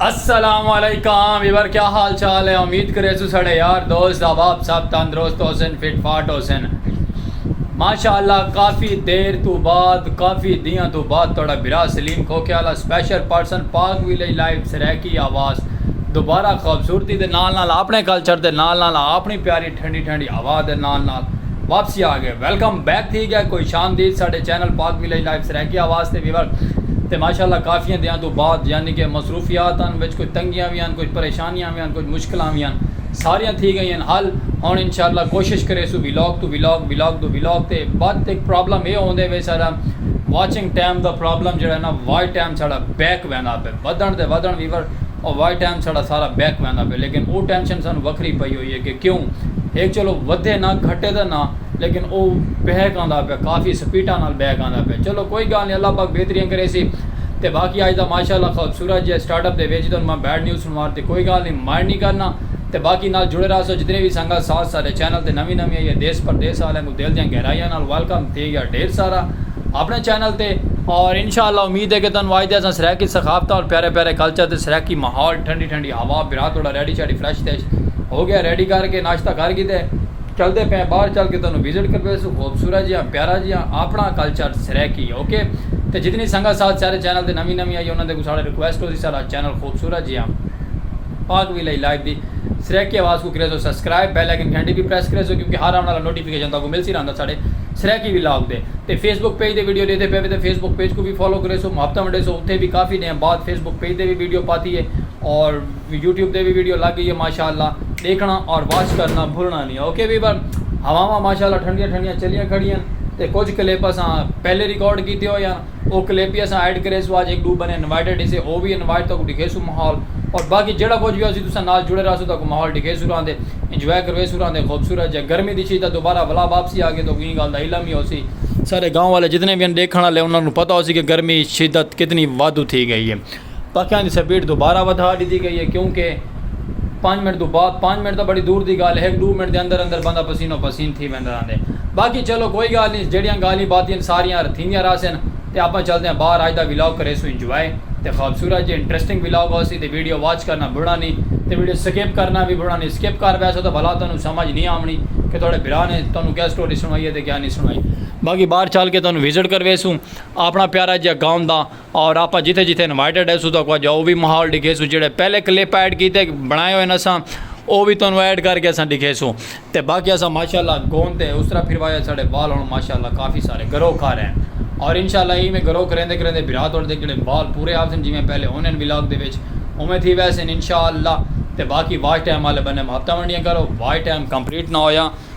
السلام علیکم ویور کیا حال چال ہے امید کرے سو سڑے یار دوست احباب سب تندرست ہو سن فٹ فاٹ ہو سن ماشاءاللہ کافی دیر تو بعد کافی دیاں تو بعد توڑا برا سلیم کھوکے والا سپیشل پرسن پاک ویلے لائیو سریکی آواز دوبارہ خوبصورتی دے نال نال اپنے کلچر دے نال نال اپنی پیاری ٹھنڈی ٹھنڈی ہوا دے نال نال واپسی آ گئے ویلکم بیک تھی گئے خوش آمدید ساڈے چینل پاک ویلیج لائف سرائیکی آواز تے ویور تے ماشاءاللہ کافیاں دیاں توں بعد یعنی کہ مصروفیات ہن وچ کچھ تنگیاں وی ہن کچھ پریشانیاں وی ہن کچھ مشکلاں وی ہن ساریاں تھی گئی ہن حل ہن انشاءاللہ کوشش کریسوں ویلاگ توں ویلاگ ویلاگ توں ویلاگ تے بعد ہک پرابلم اے ہوندے وے ساڈا واچنگ ٹائم دا پرابلم جیڑا ہے نا واچ ٹائم ساڈا بیک ویندا پے ودھن تے ودھن ویور او وائے ٹائم ساڑا سارا بیک ویندا پئے لیکن او ٹینشن سانوں وکھری پئی ہوئی ہے کہ کیوں ہک چلو ودھے نہ گھٹے تاں نہ لیکن او بیک آندا پئے کافی سپیٹاں نال بیک آندا پئے چلو کوئی گالھ نہیں اللہ پاک بہتریاں کریسی تے باقی آج دا ماشاءاللہ خوبصورت جیہے سٹارٹ اپ دے وچ تانوں میں بیڈ نیوز سنوا ڈتی کوئی گالھ نہیں مائنڈ نہیں کرنا تے باقی نال جڑے راہسو جتنے وی سنگت ساتھ ساڈے چینل تے نویں نویں آئی ہے دیس پردیس آلیاں کوں دل دیاں گہرائیاں نال ویلکم تھی گیا ڈھیر سارا اپنے چینل تے اور انشاء اللہ امید ہے کہ تانوں اج دے اساں سرائیکی ثقافتاں اور پیارے پیارے کلچر تے سرائیکی ماحول ٹھنڈی ٹھنڈی ہوا بھرا توڑا ریڈی شاڈی فریش تیش ہو گیا ریڈی کر کے ناشتہ کر کیتے چلدے پئے ہیں باہر چل کے تانوں وزٹ کر ویسوں خوبصورت جیاں پیارا جیاں اپنا کلچر سرائیکی اوکے تے جتنی سنگت ساتھ سارے چینل تے نویں نویں آئی انہاں دے اگوں ساڑا ریکویسٹ ہوسی ساڑا چینل خوبصورت جیاں پاک وی لئی لائیو دی سرائیکی آواز کوں کریسو سبسکرائب بیل آئیکن گھنٹی وی پریس کریسو کیونکہ ہر آون آلا نوٹیفکیشن تہاکوں ملسی رہندا ساڈے سرائیکی ولاگ دے تے فیس بک پیج دے ویڈیو ڈیدھے پے وے تاں فیس بک پیج کوں وی فالو کریسو محبتاں ونڈیسو اتھے وی کافی ڈینہاں بعد فیس بک پیج دے وی ویڈیو پاتی ہے اور یوٹیوب دے وی ویڈیو لگ گئی ہے ماشاءاللہ ڈیکھنا اور واچ کرنا بھولنا نہیں اوکے ویور ہواواں ماشاءاللہ ٹھنڈیاں ٹھنڈیاں چلیاں کھڑیاں تے کچھ کلپ اساں پہلے ریکارڈ کیتے ہوئے ہن او کلیپی اساں ایڈ کریسوں اج ہک ڈو بندے انوائٹڈ ہیسے او وی انوائٹ تہاکوں ڈکھیسوں ماحول اور باقی جیڑا کچھ وی ہوسی تساں نال جڑے رہسو تہاکوں ماحول ڈکھیسوں راہندے انجوائے کرویسوں راہندے خوبصورت جے گرمی دی شدت دوبارہ ولا واپسی آگئے تہاکوں ایں گالھ دا علم ہی ہوسی سارے گاؤں والے جتنے وی ہن ڈیکھن والے انہاں کوں پتہ ہوسی کہ گرمی شدت کتنی وادھو تھی گئی ہے۔ پکیاں دی سپیڈ دوبارہ ودھا ڈتی گئی ہے کیوں کہ پنج منٹ توں بعد پنج منٹ تاں بڑی دور دی گالھ ہے ہک ڈو منٹ دے اندر اندر بندہ پسینو پسین تھی ویندا رہندے باقی چلو کوئی گالھ نی جیڑیاں گالھیں باتیں ہن ساریاں تھیندیاں رہسن تے آپاں چلدے ہاں باہر اج دا ولاگ کریسوں انجوائے تے خوبصورت جے انٹریسٹنگ ولاگ ہوسی تے ویڈیو واچ کرنا بھلنا نی تے ویڈیو سکپ کرنا وی بھلنا نی سکپ کر بیسو تاں بھلا تانوں سمجھ نی آونڑی کہ تہاڈے بھرا نے تانوں کیا سٹوری سنڑائی ہے تے کیا نی سنڑائی باقی باہر چل کے تانوں وزٹ کرویسوں اپنا پیارا جیہا گاؤں دا۔ اور آپا جتھے جتھے انوائٹڈ ہیسو تو اکوا جاؤ وی ماحول ڈکھیسو جیڑے پہلے کلپ ایڈ کیتے بنائے ہوئے نسا او وی تانوں ایڈ کر کے اسا ڈکھیسو تے باقی اسا ماشاءاللہ گون تے اس طرح پھروایا ساڈے بال ہن ماشاءاللہ کافی سارے گرو کر ہیں اور انشاءاللہ ایں میں گرو کریندے کریندے بھرا تہاڈے دے جیڑے بال پورے آوسن جیویں پہلے ہونن ولاگ دے وچ اوویں تھی ویسن انشاءاللہ تے باقی واچ ٹائم آلے بنے ہفتہ ونڈیاں کرو واچ ٹائم کمپلیٹ نہ ہویا۔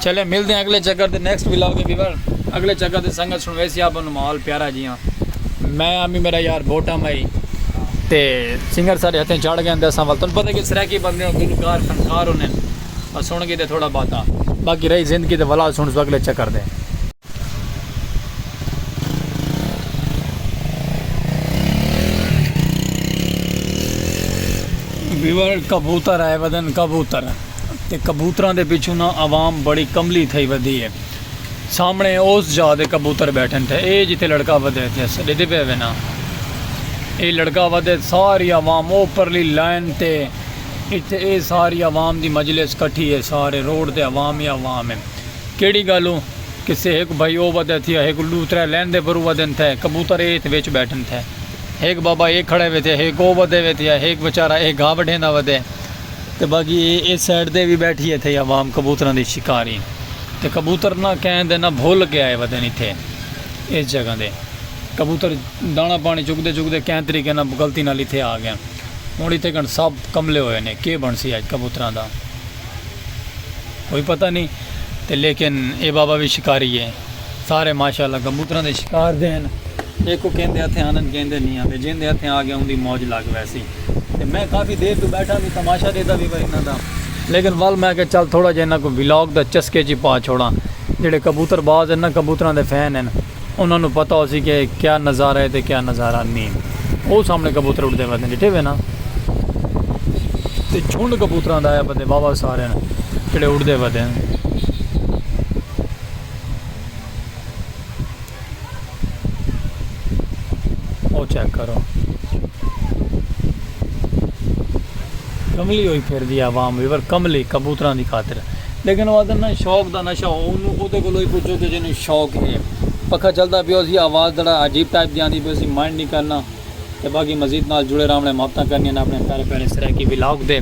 چلیں ملدے ہیں اگلے چکر تے نیکسٹ ولاگ اے ویور اگلے چکر تے سنگت سنویسی آپاں نو ماحول پیارا جیاں میں امی میرا یار بوٹا مائی تے سنگر سارے ہتھیں چڑھ گئے ہیں تے اساں ول تن پتہ کہ سرائیکی بندے ہوں گلوکار فنکار ہوں نے سن گی تے تھوڑا باتا باقی رہی زندگی تے ولا سن سو اگلے چکر دے بیور کبوتر آئے ودن کبوتر تے کبوتراں دے پچھوں نہ عوام بڑی کملی تھئی ودی ہے سامنے اس جا دے کبوتر بیٹھن تھے اے جتے لڑکا ودے تھے سڑے دے پہ وینا اے لڑکا ودے ساری عوام او پرلی لائن تے اتھے اے ساری عوام دی مجلس کٹھی ہے سارے روڈ تے عوام ہی عوام ہے کیڑھی گالوں کسے ہک بھائی او ودے تھیا ہک ڈو ترے لین دے برو ودن تھے کبوتر اے اتھ وچ بیٹھن تھے ہک بابا اے کھڑے وے تھے ہک او ودے وے تھیا ہک وچارا اے گھا وڈھیندا ودے تے باقی اے اس سائیڈ دے وی بیٹھی اے تھئی عوام کبوتراں دی شکاری تے کبوتر نہ کہن دے نہ بھل کے آئے ودن اتھے اس جگہ دے کبوتر دانہ پانی چگدے چگدے کہیں طریقے نہ غلطی نال اتھے آ گئن ہن اتھے کن سب کملے ہوئے نے کے بنسی اج کبوتراں دا۔ کوئی پتہ نی تے لیکن اے بابا وی شکاری ہے سارے ماشاءاللہ کبوتراں دے شکار دے ہن ایکو کیندے ہتھیں آندن کیندے نی آندے جیندے ہتھیں آ گیا اوندی موج لگ ویسی تے میں کافی دیر توں بیٹھا وی تماشا ڈیتا وی وا انہاں دا لیکن ول میں آکھیا چل تھوڑا جیا انہاں کوں ولاگ دا چسکے چی پا چھوڑاں جیڑھے کبوتر باز ہن نا کبوتراں دے فین ہن۔ انہاں نوں پتہ ہوسی کہ کیا نظارہ ہے تے کیا نظارہ نیں۔ او سامنے کبوتر اڑدے پئے ہن ڈٹھے وے نا۔ تے جھنڈ کبوتراں دا آیا پتے واوا سارے ہن جڑے اڑدے پتے ہن۔ او چیک کرو۔ کملی ہوئی پھر دی عوام وی پر کملی کبوتراں دی خاطر۔ لیکن او آدھن نا شوق دا نشہ او انوں اودے کولو ای پچھو کہ جینوں شوق ہے۔ پکھا چلدا پیا ہوسی آواز تھڑا عجیب ٹائپ دی آندی پئی سی مائنڈ نی کرنا تے باقی مزید نال جڑے راہونڑ نے محبتاں کرنیاں نے اپنے پیارے پیارے سرائیکی ولاگ دے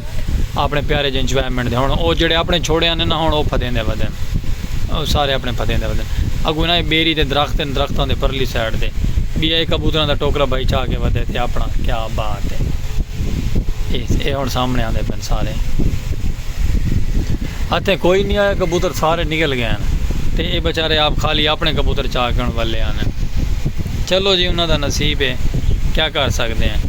اپنے پیارے جے انجوائمنٹ دے ہن او جیڑھے اپنے چھوڑے آندے نا ہن او پھدیندے ودن او سارے اپنے پھدیندے ودن اگوں انہاں دی بیری تے درخت ہن درختاں دی پرلی سائیڈ تے بیا اے کبوتراں دا ٹوکرا بھائی چا کے ودے تے اپنا کیا بات ہے اے ہن سامنے آندے پن۔ سارے اتھیں کوئی نی آیا کبوتر سارے نکل گئے ہن تے اے بچارے آپ خالی اپنے کبوتر چا گن ولے ہن چلو جی انہاں دا نصیب اے کیا کر سکدے ہیں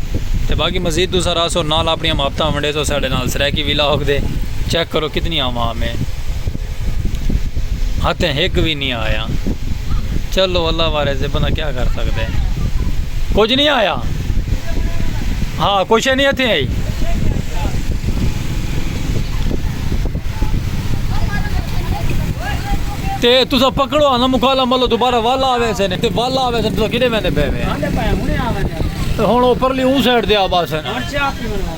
تے باقی مزید تساں رہسو نال اپنیاں محبتاں ونڈیسو ساڈے نال سرائیکی ولاگ دے چیک کرو کتنی عوام اے۔ ہتھیں ہک وی نی آیا۔ چلو اللہ وارث ہے بندہ کیا کر سکدا ہے۔ کجھ نی آیا۔ ہا کوئی شے نی ہتھیں آئی۔ تے تساں پکڑو آ نا مکالا ملو دوبارہ والا آوے سے نے تے والا آوے سے تساں کدے ویندے پے وے۔ ہن اوپرلی اوں سائیڈ تے آ باسے۔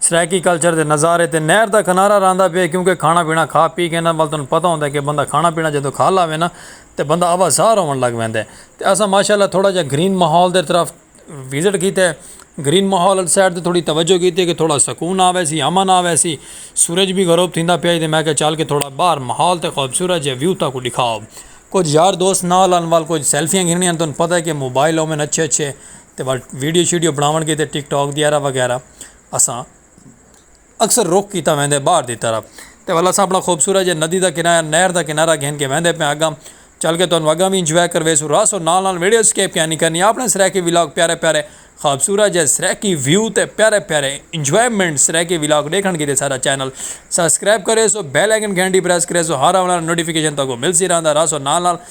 سرائیکی کلچر دے نظارے تے نہر دا کنارہ رہندا پئے کیونکہ کھانا پینا کھا پی کے انہاں ول تانوں پتہ ہوندا ہے کہ بندہ کھانا پینا جدوں کھا لاوے نا تے بندہ آوا زار ہون لگ ویندا ہے تے اساں ماشاءاللہ تھوڑا جیہا گرین ماحول دے طرف وزٹ کیتے گرین ماحول والی سائیڈ تے تھوڑی توجہ کیتی کہ تھوڑا سکون آوے سی امن آوے سی سورج بھی غروب تھیندا پیا ہی تے میں کہا چل کے تھوڑا باہر ماحول تے خوبصورت جیہا ویو تاکوں ڈکھاؤ کچھ یار دوست نال ہن ول کچھ سیلفیاں گھننیاں تانوں پتہ ہے کہ موبائل اومن اچھے اچھے تے ول ویڈیو شیڈیو بناون کیتے ٹک ٹاک دی ایرا وغیرہ اساں اکثر رخ کیتا ویندے باہر دی طرف تے ول اساں اپنا خوبصورت جے ندی دا کنارہ نہر دا کنارہ گھن کے ویندے پئے آں اگاں چل کے تانوں اگاں وی انجوائے کرویسوں رہسوں نال نال ویڈیو اسکیپ کیا نی کرنی اپنے سرائیکی ولاگ پیارے پیارے خوبصورت جے سرائیکی ویو تے پیارے پیارے انجوائمنٹ سرائیکی ولاگ ڈیکھن کیتے ساڈا چینل سبسکرائب کریسو بیل آئیکن گھنٹی پریس کریسو ہر آن والا نوٹیفیکیشن تہاکوں ملسی رہندا رہسو نال نال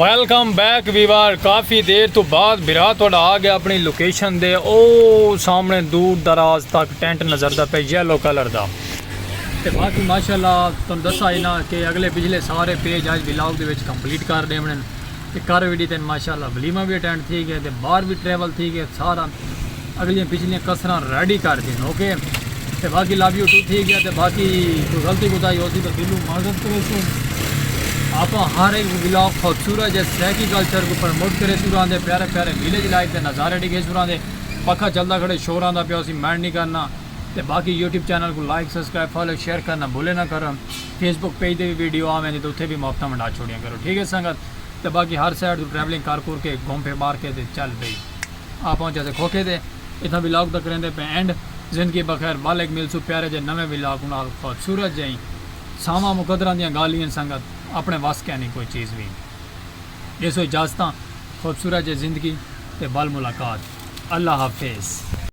ویلکم بیک ویوار کافی دیر تو بعد بھرا تھوڑا آ گیا اپنی لوکیشن دے او سامنے دور دراز تک ٹینٹ نظر دا پہ یلو کلر دا تے باقی ماشاءاللہ تن دسا ہی نا کہ اگلے پچھلے سارے پیج آج ولاگ دے وچ کمپلیٹ کر دے منن تے کر وی ڈیتے ماشاءاللہ ولیمہ وی اٹینڈ تھی گئے تے باہر وی ٹریول تھی گئے سارا اگلے پچھلے کسراں ریڈی کر دین اوکے تے باقی لو یو ٹو تھی گیا تے باقی کوئی غلطی کوتا ہی ہو سی تو دلو معذرت کرے سو آپ ہر ایک ولاگ خوبصورت جے سیکی کلچر کو پرموٹ کرے سو رہاں دے پیارے پیارے ویلیج لائف دے نظارے ڈگے سو رہاں دے پکھا چلدا کھڑے شوراں دا پیو سی مینڈ نہیں کرنا تے باقی یوٹیوب چینل کوں لائک سبسکرائب فالو شیئر کرنا بھلے نہ کرو فیس بک پیج دے وی ویڈیو آ ویندی تے اتھے وی مافتاں ونڈا چھوڑیاں کرو ٹھیک ہے سنگت تے باقی ہر سائیڈ توں ٹریولنگ کر کر کے گھوم پھر مار کے تے چل بھئی آ پہنچا سے کھوکھے تے اتھاں ولاگ دا کریندے پئے اینڈ زندگی بخیر ول ہک ملسوں پیارے جے نویں ولاگ نال خوبصورت جئیں ساواں مقدراں دیاں گالھیں ہن سنگت اپنے وس کینی کوئی چیز وی ڈیسو اجازتاں خوبصورت جے زندگی تے ول ملاقات اللہ حافظ۔